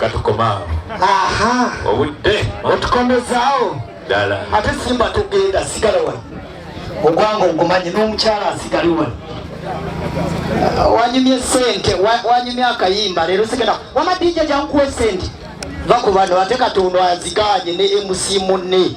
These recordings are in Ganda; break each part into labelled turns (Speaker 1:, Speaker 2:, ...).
Speaker 1: katukomaawo
Speaker 2: obudde
Speaker 1: otukomezaawo
Speaker 2: ddala ate
Speaker 1: simba
Speaker 2: tugenda sigala wano ogwange ogumanyi n'omukyala asigale wano uh, wanyumye sente wanyumye akayimba leero sigenda wama dija jankuwa esente va ku bano ate katonda aziganye ne emusi munne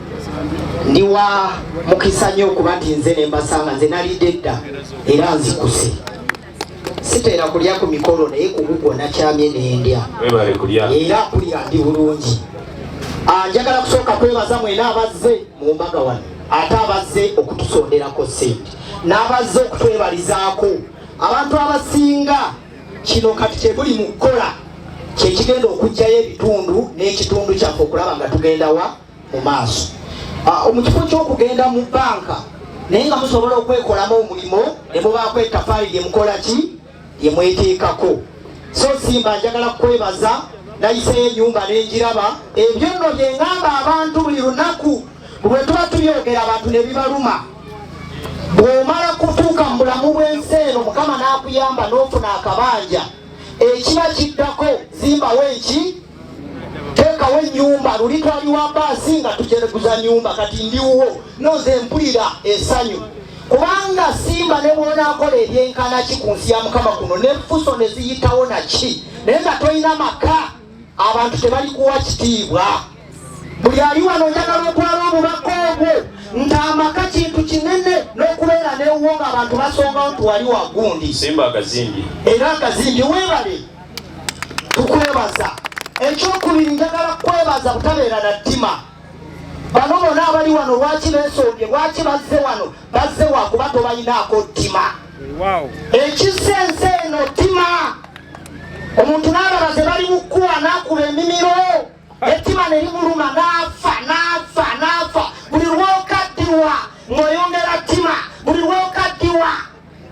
Speaker 2: ndi wa mukisa nnyo okuba nti nze ne mbasanga nze nalidde dda era nzikuse siteera kulya ku mikolo naye kugugwo nakyamye nendya era kulya ndi bulungi ah, njagala kusooka kwebaza mwena abazze mu mbaga wano ate abazze okutusonderako sente n'abazze okutwebalizaako abantu abasinga kino kati kyebuli mu kukola kyekigenda okugjayo ebitundu n'ekitundu kyaffe okulaba nga tugendawa mu maaso ah, mu kifo ky'okugenda mu banka naye nga musobola okwekolamu omulimu ne mubaako etafaali lye mukola ki lye mweteekako so simba njagala kukwebaza nayiseyo enyumba nenjiraba ebyo nno bye ngamba abantu buli lunaku bwe tuba tubyogera abantu ne bibaluma bw'omala kutuuka mu bulamu bw'ensi eno mukama n'akuyamba n'ofuna akabanja ekiba kiddako zimbawo enki teekawo enyumba luli twali wa baasi nga tujereguza nyumba kati ndiwuwo noze mpulira esanyu kubanga simba ne bwonakola ebyenkana ki ku nsi ya mukama kuno nefuso ne ziyitawo naki naye nga tolina maka abantu tebali kuwa kitiibwa buli ali wano njagala okwala obubaka obwo nti amaka kintu kinene n'okubeera newuwo nga abantu basongawo nti wali wagundi
Speaker 1: era agazimbi
Speaker 2: webale tukwebaza ekyokubiri njagala kwebaza butabeera na ttima bano bona abali wano lwaki besombye lwaki bazze wano bazze wakuba tobalinaako ttima ekisa ensi eno ttima omuntu n'abala ze bali mukuwa n'akuba emimiro ettima ne limuluma n'afa n'afa n'afa buli lwokaddiwa ng'oyongera ttima buli lwokaddiwa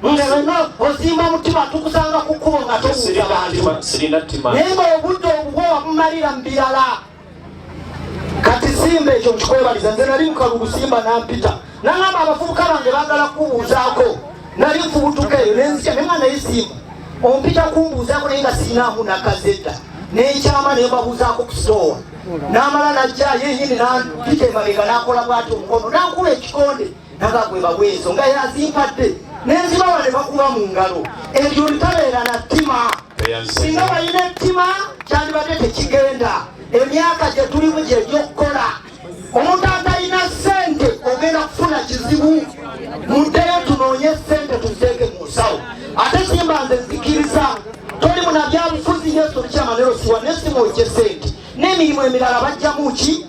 Speaker 2: nga wena ozimba omutima tukusanga ku kkubo nga tobuuza bantu naye nga obudde obubwo wabumalira mu birala kati simba ekyo nkikwebaliza nze nali mukalugu simba nampita nangamba abavubuka bange bagala kubuuzaako nali nfubutuka eyo nenzikya naye nga naye simba ompita kumbuuzaako naye nga sirinaamu nakazedda nenkyama naye babuuzaako ku sitoowa namala najja yenyini nampita emabega nakola bwati omukono nankuba ekikonde mpaka gwe bawa ezo nga yazimpadde nenzibawa ne bakuba mu ngalo ebyo olitabeera na ttima singa balina ettima kyandibadde tekigenda emyaka gye tulimu gyegyokukola omuntu atalina sente ogenda kufuna kizibu muddeyo tunoonye sente tuzeeke mu nsawo ate simba nze nzikiriza toli munabyabufuzi yesu lukyamanero siwa nesimwokye sente n'emirimu emirala bajjamu ki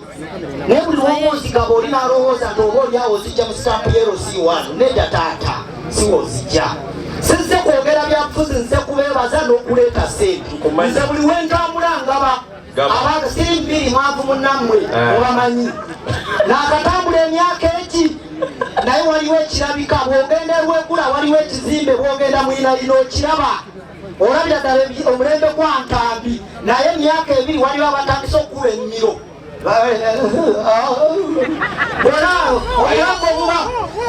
Speaker 2: naye buli lwowonzigaba oli nalowooza nti oba olyawo ozijja mu sitampu yeroc1 nedda taata siwozijja sinze kwogera byabufuzi nze kubeebaza n'okuleeta sente nze buli wentambula ngaba abantu siri mbiri mwavu munammwe eh. obamanyi nakatambula emyaka egi naye waliwo ekirabika bwogenda erwegula waliwo ekizimbe bwogenda muyinalina okiraba olabira ddala omulembe gwa ntambi naye emyaka ebiri waliwo abatandise okukuba ennimiro olaawo obulago obuba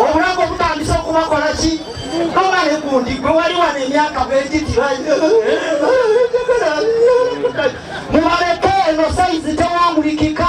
Speaker 2: obulago obutandise okubakola ki oba ne gundi gwe wali wano emyaka bwegiti mubaleke eno sayizi tewangulikika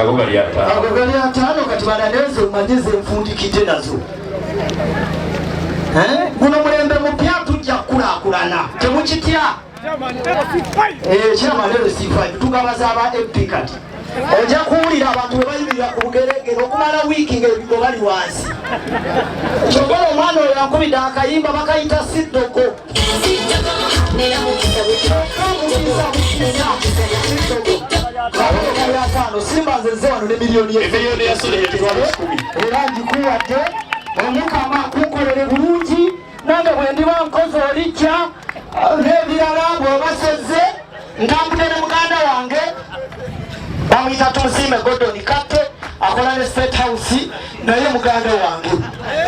Speaker 2: ago gali ataano ago gali ataano kati balaneeze omanye zenfundikidde nazo guno mulembe mupya tujja kukulakulana temukitya ekyamanelosifayo eh, tugabaza aba mp kati ojja kuwulira abantu webayimirira ku bugeregere okumala wiiki ngaebigo bali wansi kyogala omwana oyo akubidde akayimba bakayita siddoko era ngikuwadde omukama kunkolere bulungi nange bwendiba nkozi olijja n'ebirala bwobasezze Ntambudde ne muganda wange bamuyita Tumusiime Gordon Katte akola ne State House naye muganda wange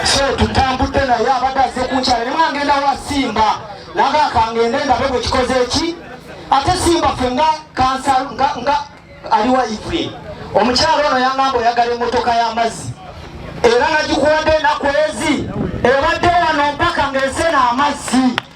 Speaker 2: so tutambudde naye abadde azze kunkyala ne mwangenda wa Simba naga kangende ndabe bwe kikoze ki ate Simba ffe nga kansa nga, nga aliwa ife omukyala ono yangamba oyagala emmotoka y'amazzi era nagikuwadde enaku ezi ebadde wano mpaka ng'esena amazzi